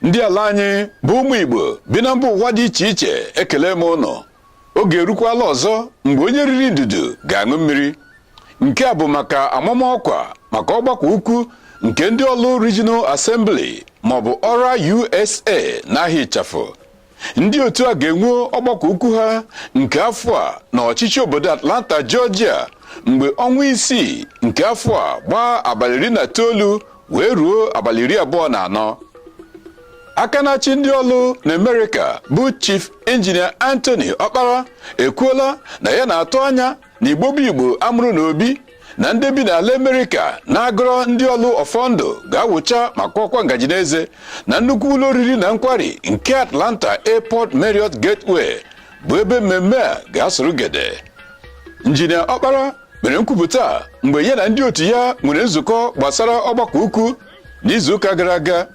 ndị ala anyị bụ ụmụ Igbo bi na mba ụwa dị iche iche ekelee m ụnụ oge erukwala ọzọ mgbe onye riri ndudu ga-aṅụ mmiri nke a bụ maka amamọkwa maka ọgbakọ ukwu nke ndị ọlụ Regional Assembly maọbụ ọra USA n'aha ịchafụ ndị otu a ga-enwe ọgbakọ ukwu ha nke afọ a na ọchịchị obodo Atlanta Georgia mgbe ọnwa isii nke afọ a gbaa abalị iri na itoolu wee ruo abalị iri abụọ na anọ aka na-achị ndị ọlụ na Amerịka bụ Chief Injinia Anthony Ọkpara ekwuola na ya na-atụ anya na igbo bụ igbo a mụrụ na obi na ndị bi n'ala Amerịka na-agọrọ ndị ọlụ ọfọ ndụ ga-awụcha ma kọọkwa ngaji n'eze na nnukwu ụlọ oriri na nkwari nke Atlanta Airport Marriott Gateway bụ ebe mmemme a ga-asụrụ gede injinia ọkpara mere nkwupụta a mgbe ya na ndị otu ya nwere nzukọ gbasara ọgbakọ ukwu n'izuụka gara aga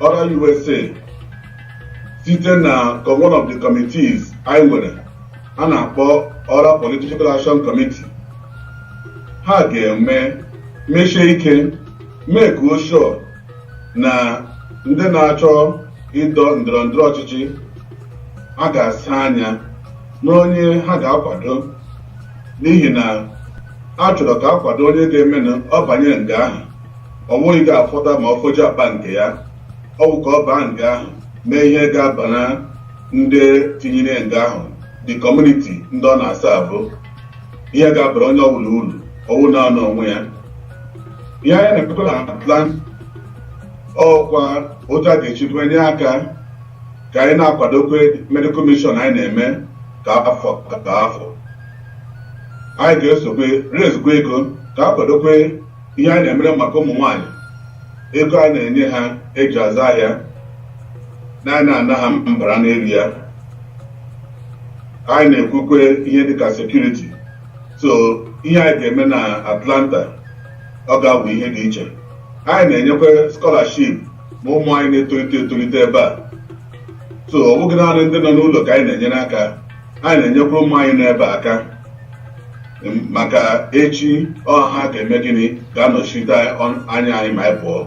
ọra USA site na one of the committees anyị nwere a na-akpọ ọra political action committee ha ga-eme meshie ike meekwa sure na ndị na-achọ ịdọ ndọrọ ndọrọ ọchịchị ha ga-asa anya n'onye ha ga-akwado n'ihi na a chọrọ ka a kwado onye ga-eme na ọ banye nga ahụ ọ wụghị ga-afọta ma ọ fọjụ akpa nke ya ọ bụ ka ọ baa nga ahụ mee ihe ga-abara ndị tinyere nga ahụ the community ndị ọ na-serve ihe ga-abara onye ọbụla uru ọ wụghị naanị onwe ya ihe anyị na-ekwekọ na plan ọkwa otu a ga-eshi tinye aka ka anyị na-akwadokwe medical mission anyị na-eme kwa afọ kwa afọ anyị ga-esokwe raisekwa ego ka a kwadokwe ihe anyị na-emere maka ụmụ nwaanyị ego anyị na-enye ha eji azụ ahịa na anyị na-ana ha mbara n'elu ya anyị na-ekwukwe ihe dịka security so ihe anyị ga-eme na atlanta ọ ga-abụ ihe dị iche anyị na-enyekwa scholarship ma ụmụ anyị na-etolite etolite ebe a so ọ bụghị naanị ndị nọ n'ụlọ ka anyị na-enyere aka anyị na-enyekwa ụmụ anyị n'ebe a aka maka echi ọ ha ga-eme gịnị ga-anọchite anya anyị ma anyị pụọ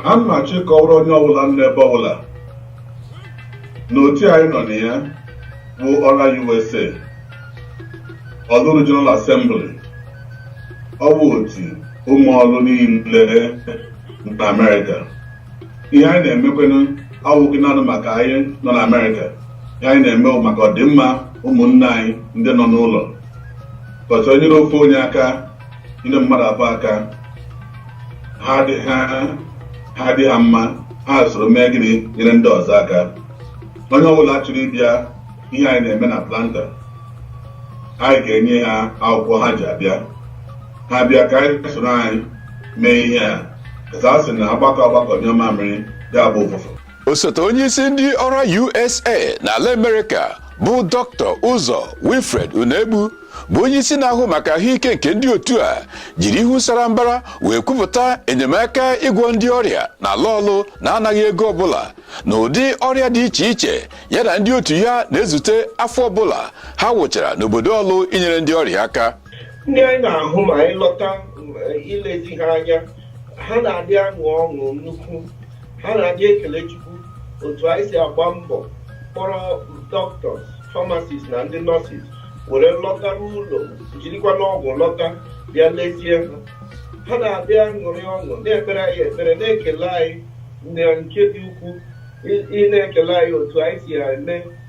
a m na-achọ ịkọwara onye ọbụla nọ n'ebe ọbụla na otu anyị nọ na ya bụ ọra USA ọlụ Regional Assembly ọ bụ otu ụmụ ọlụ niile na Amerịka ihe anyị na-emekwenụ awụghị naanị maka anyị nọ na amerịka ihe anyị na-eme bụ maka ọdịmma ụmụnne anyị ndị nọ n'ụlọ because e nyere ofu onye aka nyere mmadụ abụọ aka ha adị- ha- ha dị ha mma ha soro mee gịnị nyere ndị ọzọ aka onye ọbụla chọrọ ịbịa ihe anyị na-eme n'atlanta anyị ga-enye ha akwụkwọ ha ji abịa ha bịa ka anyị soro anyị mee ihe a ka a sị na agbakọ agbakọ nyụọ mamịrị ya gbọọ ụfụfụ osote onyeisi ndị ọra usa n'ala amerịka bụ dọkịta ụzọ wilfred unegbu bụ onyeisi na-ahụ maka ahụike nke ndị otu a jiri ihu sara mbara wee kwupụta enyemaka ịgwọ ndị ọrịa na ala ọlụ na-anaghị ego ọbụla na ụdị ọrịa dị iche iche ya na ndị otu ya na-ezute afọ ọbụla ha wụchara n'obodo ọlụ inyere ndị ọrịa aka ndị anyị na-ahụ ma anyị lọta eh, ilezi ha anya ha na-adị aṅụ ọṅụ nnukwu ha na-adị ekele chukwu otu anyị si agba mbọ kpọrọ dọkịtọs famasis na ndị nọsis were lọta n'ụlọ jirikwanụ ọgwụ lọta bịa lezie ha ha na-adị aṅụrị ọṅụ na-ekpere anyị ekpere na-ekele anyị na nke dị ukwuu ị- ị na-ekele anyị otu anyị si eme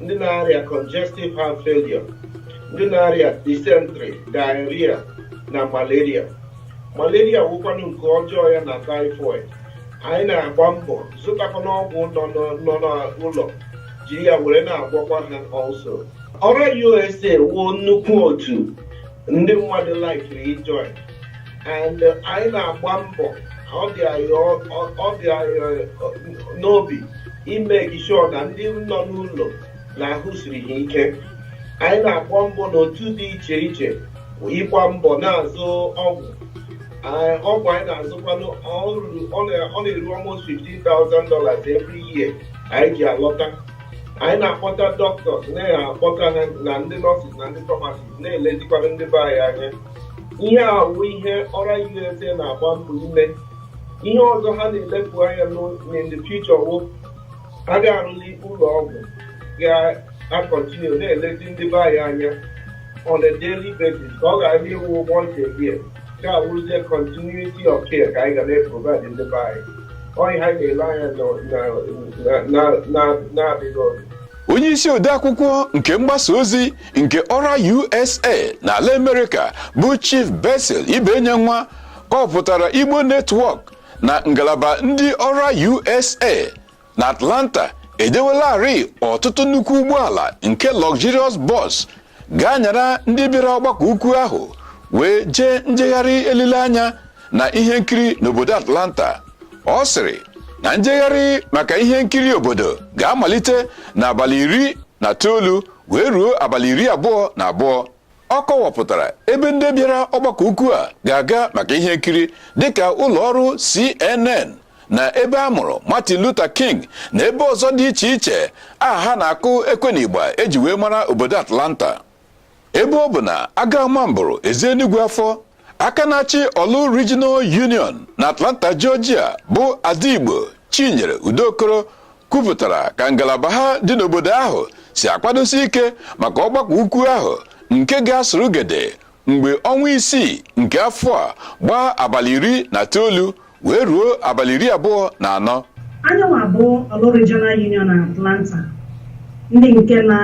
ndị na-arịa congestive heart failure ndị na-arịa dysentery diarrhea na malaria malaria wụkwanụ nke ọjọọ ya na typhoid anyị na-agba mbọ zụtakwanụ ọgwụ nọ n'ọ- nọ n'ụlọ jiri ya were na-agwọkwa ha also ọra usa wụ nnukwu otu ndị mmadụ laikiri ijoin and anyị na-agba mbọ ọ dị anyị n'obi imake sure na ndị nọ n'ụlọ na ahụ siri ha ike anyị na-agba mbọ n'otu dị iche iche ịgba mbọ na-azụ ọgwụ ọgwụ anyị na-azụkwanụ ọ na-eru almost $15,000 every year anyị ji alọta anyị na-akpọta dọkịtọs na-akpọta na ndị nọsis na ndị famasis na-elezikwanụ ndị be anyị anya ihe a bụ ihe ọra USA na-agba mbọ ime ihe ọzọ ha na-elepụ anya in the future wụ a ga-arụli ụlọ ọgwụ ga-akọntinu na-elezi ndị be anyị anya on a daily basis ka ọ ghara ịwụ once a year ka ọ wụzie continuity of care ka anyị ga na-eprovide ndị be anyị ọ ihe ha na-ele anya na-adịghị ọdụ onye isi odeakwụkwọ nke mgbasa ozi nke ORA USA na ala amerịka bụ chief Basil Ibenyenwa kọpụtara Igbo Network na ngalaba ndị ORA USA na atlanta edewelarị ọtụtụ nnukwu ụgbọala nke luxurious bus ga-anyara ndị bịara ọgbakọ ukwu ahụ wee jee njegharị elileanya na ihe nkiri n'obodo atlanta ọ sịrị na njegharị maka ihe nkiri obodo ga-amalite n'abalị iri na itoolu wee ruo abalị iri abụọ na abụọ ọ kọwapụtara ebe ndị bịara ọgbakọ ukwu a ga-aga maka ihe nkiri dịka ụlọ ọrụ CNN na ebe a mụrụ Martin Luther King na ebe ọzọ dị iche iche aha na-akụ ekwe na igba e ji wee mara obodo Atlanta ebe ọ bụ na aga ama mbụrụ ezi enugwu afọ aka na-achị Orlu Regional Union na Atlanta Georgia bụ Ada Igbo Chinyere Udokoro kwupụtara ka ngalaba ha dị n'obodo ahụ si akwadosi ike maka ọgbakọ ukwu ahụ nke ga-asụrụ gede mgbe ọnwa isii nke afọ a gbaa abalị iri na itoolu wee ruo abalị iri abụọ na anọ anyị nwa bụ Orlu regional union na atlanta ndị nke na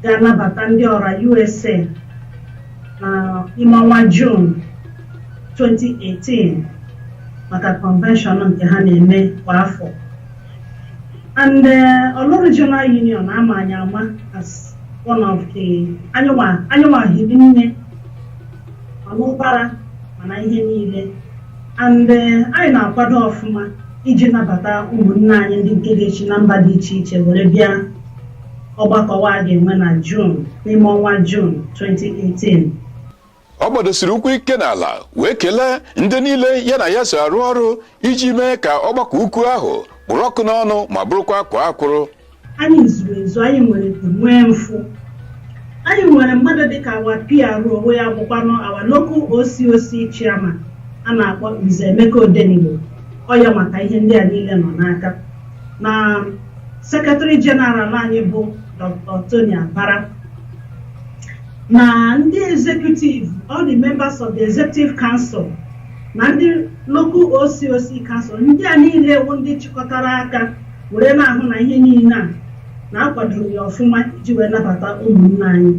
ga-anabata ndị ORA USA na ime ọnwa June 2018 maka convention nke ha na-eme kwa afọ and uh, Orlu regional union a ma anyị ama as one of the anyị nwa hiri nne ọṅụ ụkwara mana ihe niile and eh, anyị na-akwado ọfụma iji nabata ụmụnne anyị ndị nke ga-esi na mba dị iche iche were bịa ọgbakọ wa a ga-enwe na June n'ime ọnwa June 2018 ọ gbadosiri ụkwụ ike n'ala wee kelee ndị niile ya na ya so arụ ọrụ iji mee ka ọgbakọ ukwu ahụ kpụrụ ọkụ n'ọnụ ma bụrụkwa akwaa akwụrụ anyị zuru ezu anyị nwere ego nwee mfụ anyị nwere mmadụ dịka our PRO onwe ya bụkwanụ our local OCOC chairman a na-akpọ Nze Emeka Odenigbo ọ ya maka ihe ndị a niile nọ n'aka na secretary general anyị bụ Dr. Tony Abara na ndị executive all the members of the executive council na ndị local OCOC council ndị a niile wụ ndị chịkọtara aka were na-ahụ na ihe niile a na-akwadoro ya ọfụma iji wee nabata ụmụnne anyị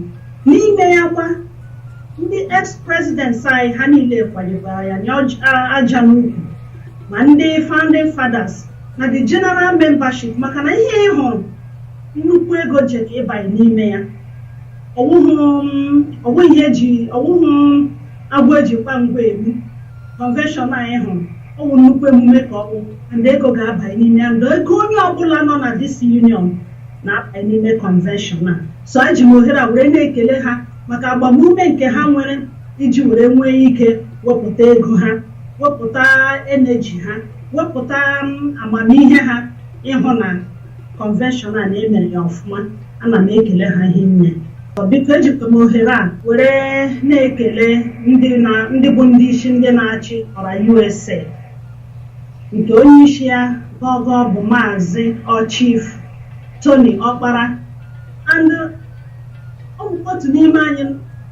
n'ime ya kwa ndị ex presidents anyị ha niile kwadebara ya nye ọj- a- aja n'ukwu ma ndị founding fathers na the general membership maka na ihe ị hụrụ nnukwu ego ji ka ịbanye n'ime ya ọwụhụ m- ọwụ ihe eji ọwụhụ agwọ e ji ngwa ngwa egbu convention anyị hụrụ Ọ bụ nnukwu emume ka ọ bụ and ego ga-abanye n'ime ya. And ego onye ọbụla nọ na this union na-abanye n'ime convention a. So eji m ohere a were na-ekele ha maka agbamume nke ha nwere iji were nwee ike wepụta ego ha, wepụta energy ha, wepụta um, amamihe ha ịhụ na convention a na e mere ya ọfụma ana m ekele ha hinne Ọ biko ejikwa m ohere a were na-ekele ndị na ndị bụ ndị isi ndị na-achị ORA USA nke onye isi ya gọgọ bụ maazị ọ Chief Tony Ọkpara and ọ bụ otu n'ime anyị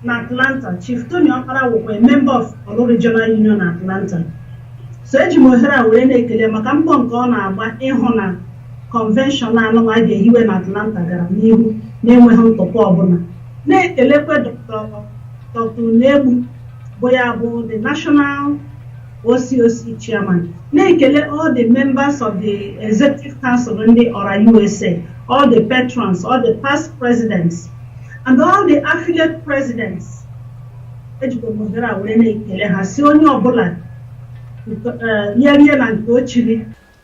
na Atlanta Chief Tony Ọkpara wụkwa a member of Orlu Regional Union Atlanta So eji m ohere a were na-ekele maka mbọ nke ọ na-agba ịhụ na kọnvenshọn anụnwa a ga-ehiwe na Atlanta gara n'ihu na-enweghị ntụpọ ọbụla na-ekelekwe Dr. Unegbu bụ ya bụ the national OCOC chairman na-ekele all the members of the executive council ndị ORA USA all the patrons all the past presidents and all the affiliate presidents ejikwa m ohere a were na-ekele ha sị onye ọbụla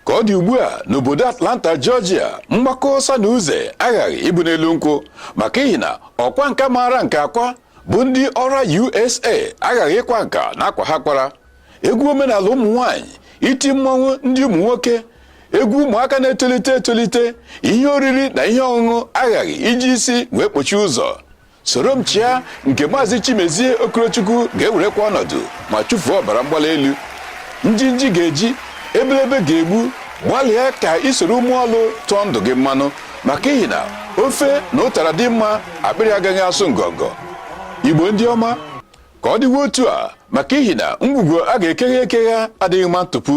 ka ọ dị ugbu a n'obodo atlanta georgia mgbakọ ọsa na uze aghaghị ịbụ n'elu nkwụ maka ihi na ọkwa nka maara nka akwa bụ ndị ora usa aghaghị ịkwa nka na akwa ha kwara egwu omenala ụmụ nwanyị iti mmọnwụ ndị ụmụ nwoke egwu ụmụaka na-etolite etolite ihe oriri na ihe ọṅụṅụ aghaghị iji isi wee kpochie ụzọ soro m chịa nke maazị chimezie okorochukwu ga-ewerekwa ọnọdụ ma chụfuo ọbara mgbali elu njinji ga-eji ebelebe ga-egbu gbalịa ka i soro ụmụ ọlụ tụọ ndụ gị mmanụ maka ihi na ofe na ụtara dị mma akpịrị agaghị asụ ngọngọ igbo ndị ọma ka ọ dịwe otu a maka ihi na ngwugwu a ga-ekeghe ekeghe adịghị mma ntụpu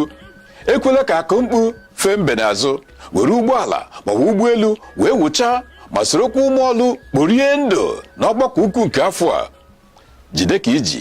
ekwela ka akụ mkpu fee mbe n'azụ were ụgbọala maọbụ ụgbọelu wee wụchaa ma sorokwa ụmụ ọlụ kporie ndụ n'ọgbakọ ukwu nke afọ a jide ka i ji